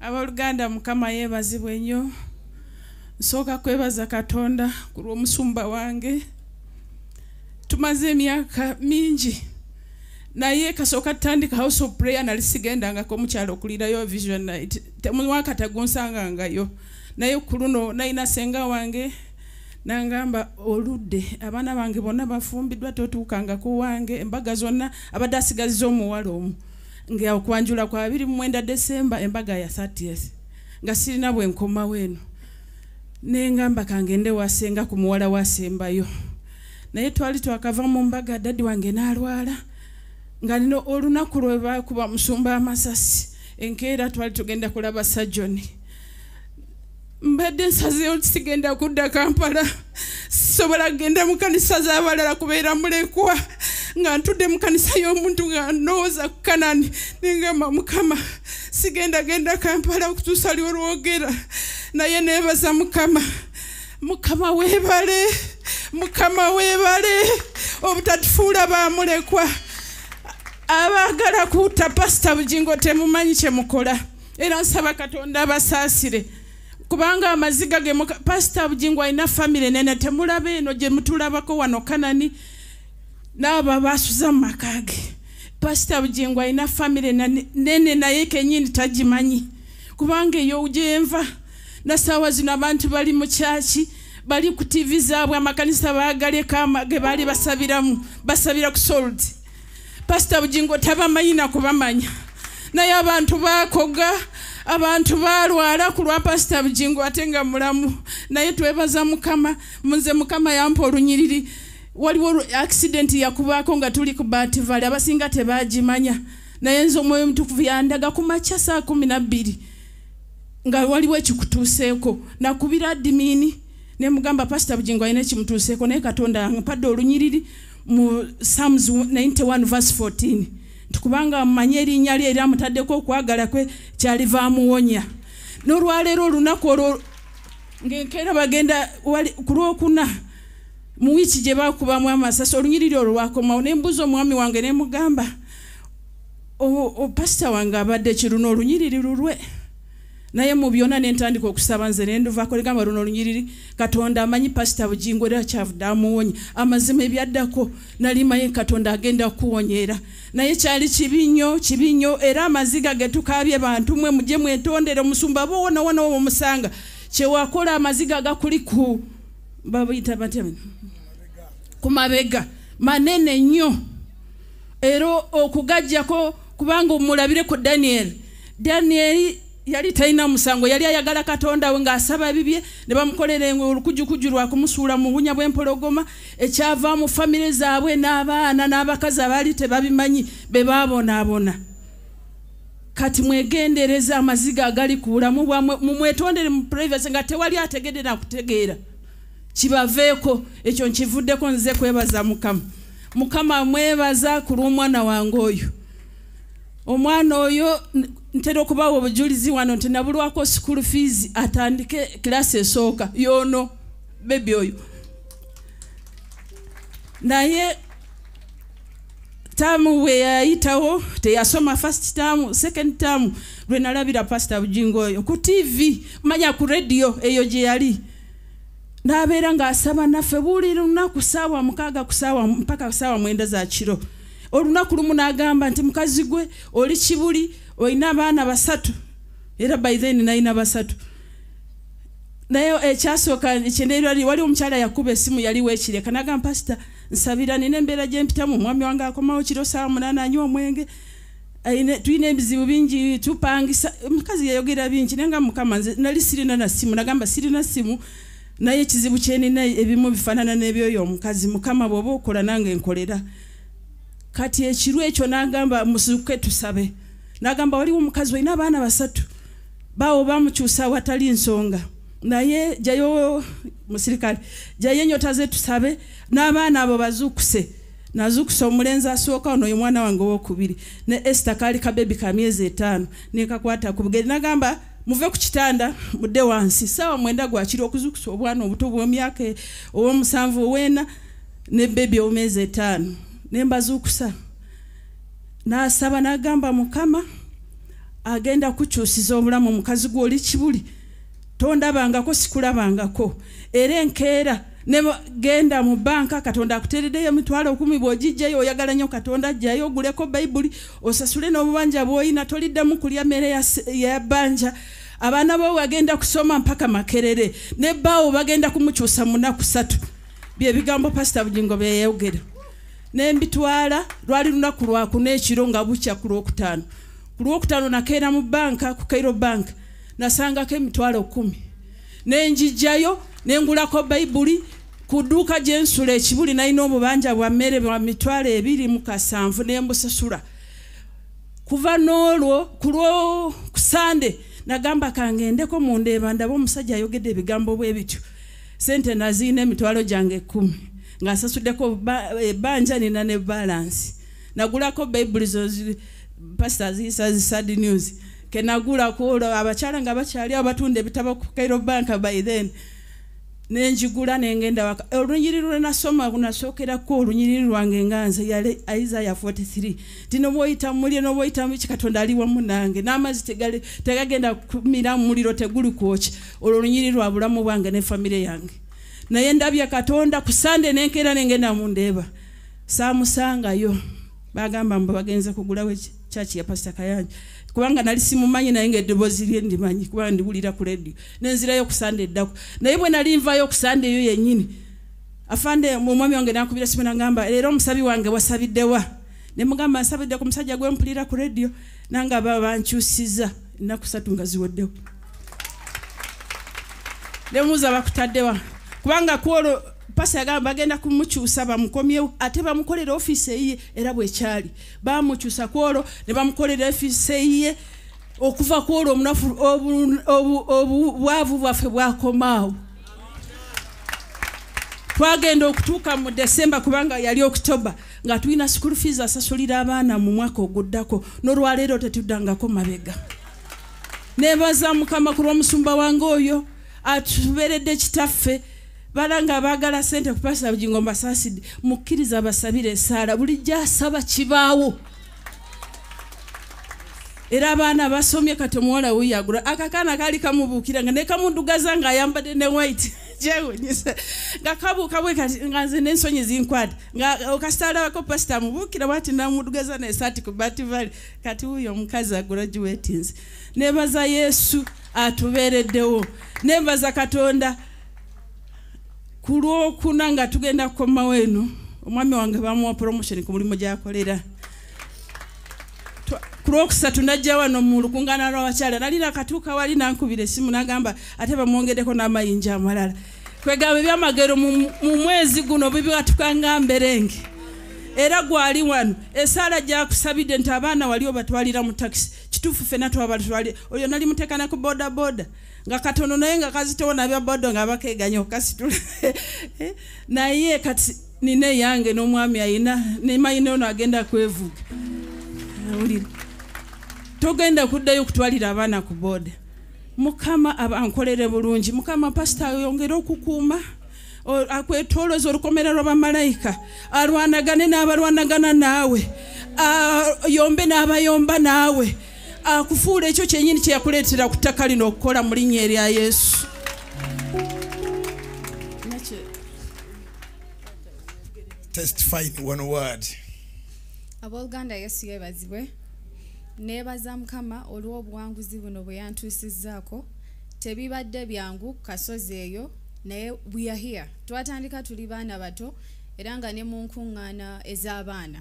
aboluganda mukama yebazibwe nnyo nsooka kwebaza katonda ku lw'omusumba wange tumaze emyaka mingi naye kasooka tutandika house of prayer nali sigendangako omukyalo okulirayo vision night temwaka tegunsangangayo naye ku luno nalina senga wange nangamba oludde abaana bange bonna bafumbiddwa totuukangako wange embaga zonna abadde asigaziza omuwala omu nga okwanjula kwa 29 December embaga ya 30th nga sirina bwe nkomawo eno ne ngamba kangende wasenga ku muwala wasembayo naye twali twakava mu mbaga dadi wange n'alwala nga nina olunaku lwe bakuba musumba amasasi enkeera twali tugenda kulaba sajoni mbadde nsazeewo nti sigenda kudda kampala sisobola kugenda mu kanisa z'abalala kubeera mulekwa nga ntudde mu kanisa y'omuntu nga ndowooza ku kanani nengamba mukama sigenda genda kampala okutuusa liwo lwogera naye neebaza mukama mukama weebale mukama weebale obutatufuula baamulekwa abaagala kuuta pasita bugingo temumanyi kye mukola era nsaba katonda abasaasire kubanga amaziga ge pasita bugingo alina famire nene temulaba eno gye mutulabako wano kanani naabo abasuza mu maka ge pasita bugingo alina famire nene naye kenyini tagimanyi kubanga eyo gyenva nasaawa zino abantu bali mu kyaki bali ku tivi zaabwe amakanisa baagaleka ge baali basabiramu basabira ku soldi pasita bugingo tabamanyi nakubamanya naye abantu bakoga abantu balwala ku lwa pasita bugingo ate nga mulamu naye twebaza mukama nze mukama yampa olunyiriri waliwo accident yakubaako nga tuli ku bativale abasinga tebagimanya naye nze omwoyo omutukuvu yandaga ku makya saa kumi nabbiri nga waliwo ekikutuuseeko nakubira adimini nemugamba pasita bugingo alina ekimutuuseeko naye katonda ampadde olunyiriri mu psalms 91 verse 14 nti kubanga amumanyi erinnya lye era amutaddeko okwagala kwe kyaliva amuwonya n'olwaleero olunaku olwo ngaenkeera bagenda ku lwokuna mu wiiki gye bakubamu amasasi olunyiriri olwo lwakomawo ne mbuuza omwami wange ne mugamba pasita wange abadde kiruna olunyiriri lulwe naye mu byona ne ntandika okusaba nze ne nduvako ligamba luno olunyiriri katonda amanyi pasita bugingo era kyavude amuwonye amazima ebyaddako nali maye katonda agenda kuwonyera naye kyali kibi nnyo kibi nnyo era amaziga getukaabye bantu mwe mujje mwetondere omusumba bowonawona owo musanga kyewakola amaziga gakuli ku babuyita batya ku mabega manene nnyo era okugajjako kubanga omulabireko daniel daniel yali talina musango yali ayagala katonda we ng'asaba ebibye ne bamukolera engwe olukujukuju lwa kumusuula mu bunya bw'empologoma ekyava mu famire zaabwe n'abaana n'abakazi abaali tebabimanyi be baabonaabona kati mwegendereza amaziga agali ku bulamu bwamwe mumwetondere mu privacy nga tewali ategedde nakutegeera kibaveeko ekyo nkivuddeko nze kwebaza mukama mukama mwebaza ku lw'omwana wange oyo omwana oyo ntera okubawa obujulizi wano nti nabulwako school fees atandike kilasi esooka yoono bebi oyo naye taamu we yayitawo teyasoma first taamu second taamu lwe nalabira pasita bujingo oyo ku tv manya ku rediyo eyo gye yali n'abeera ng'asaba naffe buli lunaku saawa mukaaga kusaawa mpaka saawa mwenda za kiro olunaku lumu n'agamba nti mukazi gwe oli kibuli olina abaana basatu era by then nalina basatu naye ekyasooka kyendeerwali waliwo omukyala yakuba esimu yali wekireka nagamba pasita nsabira nina embeera gyempitamu omwami wange akomawo kiro saawa munaana anywa omwenge tulina ebizibu bingi tupangisa omukazi yayogera bingi naye nga mukama nze nali sirina na simu nagamba sirina simu naye ekizibu kyenina ebimu bifaanana n'ebyoyo omukazi mukama bw'oba okola nange nkolera kati ekiru ekyo nagamba musuke tusabe nagamba waliwo omukazi olina abaana basatu baawo bamukyusa watali nsonga naye jayo musirikale jayo enyota ze tusabe n'abaana abo bazuukuse nazukusa omulenzi asooka ono ye mwana wange owokubiri ne ester kaali kabebi ka myezi etaano nekakwata ku bugeri nagamba muve ku kitanda mudde wansi saawa mwenda gwakiri okuzukusa obwana obuto bwomyaka e, owomusanvu oweena ne bebi owomyezi etaano nembazukusa nasaba nagamba mukama agenda kukyusiza obulamu omukazi gwoli kibuli tondabangako sikulabangako era enkeera negenda mu banka katonda akuteereddeyo emitwalo okumi bwogijjayo oyagala nnyo katonda ajjayo oguleko bayibuli osasule n'obubanja bwolina toliddamu kulya mmere ya banja abaana bo bagenda kusoma mpaka makerere ne baawo bagenda kumukyusa munaku satu byebigambo pasita bugingo byeyayogera nembitwala lwali lunaku lwakuna ekiro nga bukya ku lwokutaano ku lwokutaano nakeera mu banka ku kairo banka nasangako emitwalo kumi nenjijjayo nengulako bayibuli ku dduuka gye nsula ekibuli nalina obubanja bwa mmere bwa mitwalo ebiri mu kasanvu ne mbusasula kuva n'olwo ku lwokusande nagamba kangendeko mu ndeeba ndaba omusajja ayogedde ebigambo bwe bityo sente naziina emitwalo gyange ekkumi ng'asasuddeko ebbanja nina ne balansi nagulako bayibuli zo pasita ziyisa zi sad news kenagula kulo abakyala nga bakyali abatunda ebitabo ku Cairo Bank by then nenjigula nengenda waka olunyiri lwe nasoma kunasokerako olunyiriri lwange nga nze yale Isaiah 43 tino bwoyita mulye no bwoyita mu kikatonda ali wamu nange n'amazi tegali tegagenda kumira muliro teguli kwoki olwo olunyiri lwa bulamu bwange ne family yange naye ndabye katonda ku sande nenkera nengenda mu ndeeba saamusangayo bagamba mbu bagenze kugulawo church ya pastor kayanja kubanga nali simumanyi naye nga eddoboozi lye ndimanyi kubanga ndiwulira ku radio nenzirayo kusande eddako naye bwe nali nvayo kusande eyo yennyini afande omwami wange nakubira simu nagamba leero omusabi wange wasabiddewa ne mugamba nsabidde ku musajja gwe mpulira ku radio nange aba bankyusiza ennaku satu nga ziweddewo nemuuza bakutaddewa kubanga kwolwo pasa yagamba bagenda kumukyusa bamukomyewo ate bamukolera ofiisi eyiye era bwekyali baamukyusa ku olwo ne bamukolera efiisa eyiye okuva ku olwo omunafu obwavu bwaffe bwakomaawo twagenda okutuuka mu desemba kubanga yali okitoba nga tulina school fees asasulira abaana mu mwaka oguddako nolwaleero tetuddangako mabega nebaza mukama ku lwomusumba wange oyo atuberedde kitaffe balanga abaagala sente ku pasita bugingo mbasaasidde mukkiriza abasabire esaala bulijjo asaba kibaawo era abaana basomye kati omuwala weyagula akakaana kaali kamubuukira nga nekamudugaza nga ayambadde ne white jewunyisa nga kabuuka bwe kati nga nze nensonyi zinkwata nga okasitalabako pasita amubuukira bwati namudugaza nesaati ku bativali kati wuyo omukazi agula giwetinzi nebaza yesu atubeereddewo nebaza katonda ku lwokuna nga tugenda kukomawo eno omwami wange bamuwa promotion ku mulimu gyakolera ku lwokusatu najja wano mu lukungana lwabakyala nali nakatuuka wali nankubira esimu nagamba ate bamwongedeko n'amayinja amalala kwegamba ebyamagero mu mwezi guno bibiwatukanga mberenge era gwali wano esaala gyakusabidde nti abaana wali obatwalira mu takisi kituufu fena twabatwali oyo nali mutekana ku bodaboda nga katono naye nga kazitowo nabya bodo nga bakeganya okukasitula eh, naye kati nina eyange n'omwami ayina nemayina ono agenda kwevuga awulira togenda kuddayo okutwalira abaana ku boda mukama abankolere bulungi mukama pasita ayongere okukuuma akwetoloza olukomera lwa bamalayika alwanagane n'abalwanagana naawe ayombe n'abayomba naawe akufuula ekyo kyenyini kyeyakuleetera ku ttaka lino okukola mu linnya erya yesu abooluganda yesu yebazibwe neebaza mukama olw'obuwanguzi buno bwe yantuusizzaako tebibadde byangu kasozi eyo naye weare here twatandika tuli baana bato era nga ne mu nkuŋŋaana ez'abaana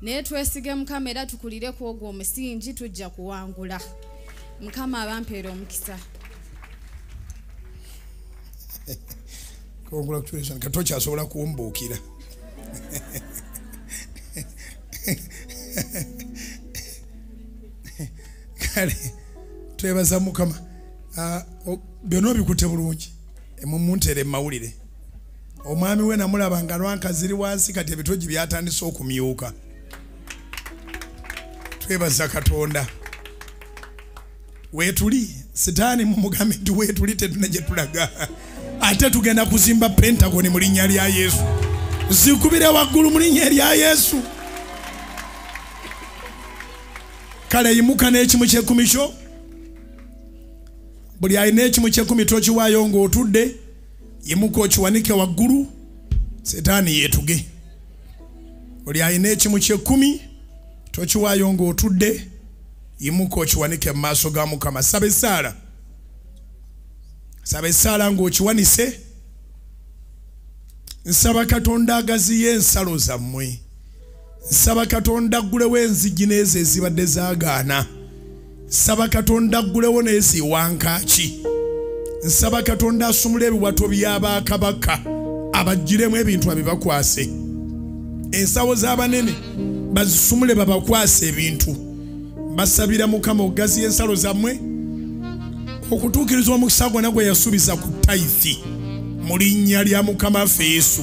naye twesige mukama era tukulire ku ogwo omusingi tujja kuwangula mukama abampeera omukisa congratulation kati okyasobola kumbuukira kale twebaza mukama ah, byonna obikute bulungi emumuntere mumawulire omwami we namulaba nga lwanka ziri wansi kati ebitogi byatandise okumyuka twebaza katonda wetuli sitaani mumugambe nti wetuli tetuna gyetulaga ate tugenda kuzimba pentagoni mu linnya lya yesu zikubire waggulu mu linnya erya yesu kale yimuka n'ekimu kyekumi kyo buli alina ekimu kyekumi tokiwaayo ng'otudde yimuka okiwanike waggulu setaani yeetuge oli alina ekimu kyekkumi tokiwaayo ng'otudde yimuka okiwanike mu maaso ga mukama saba essaala saba essaala ng'okiwanise nsaba katonda agaziyo ensalo zammwe nsaba katonda aggulewo enzigi n'ezo ezibadde zaagaana nsaba katonda aggulewo neziwankaaki nsaba katonda asumula ebiwato byabakabaka abajjiremu ebintu abibakwase ensawo z'abanene bazisumule babakwase ebintu basabira mukama okugaziya ensalo zammwe okutuukiriza omukisa gwona gwe yasuubiza ku taithi mu linnya lya mukama ffe yesu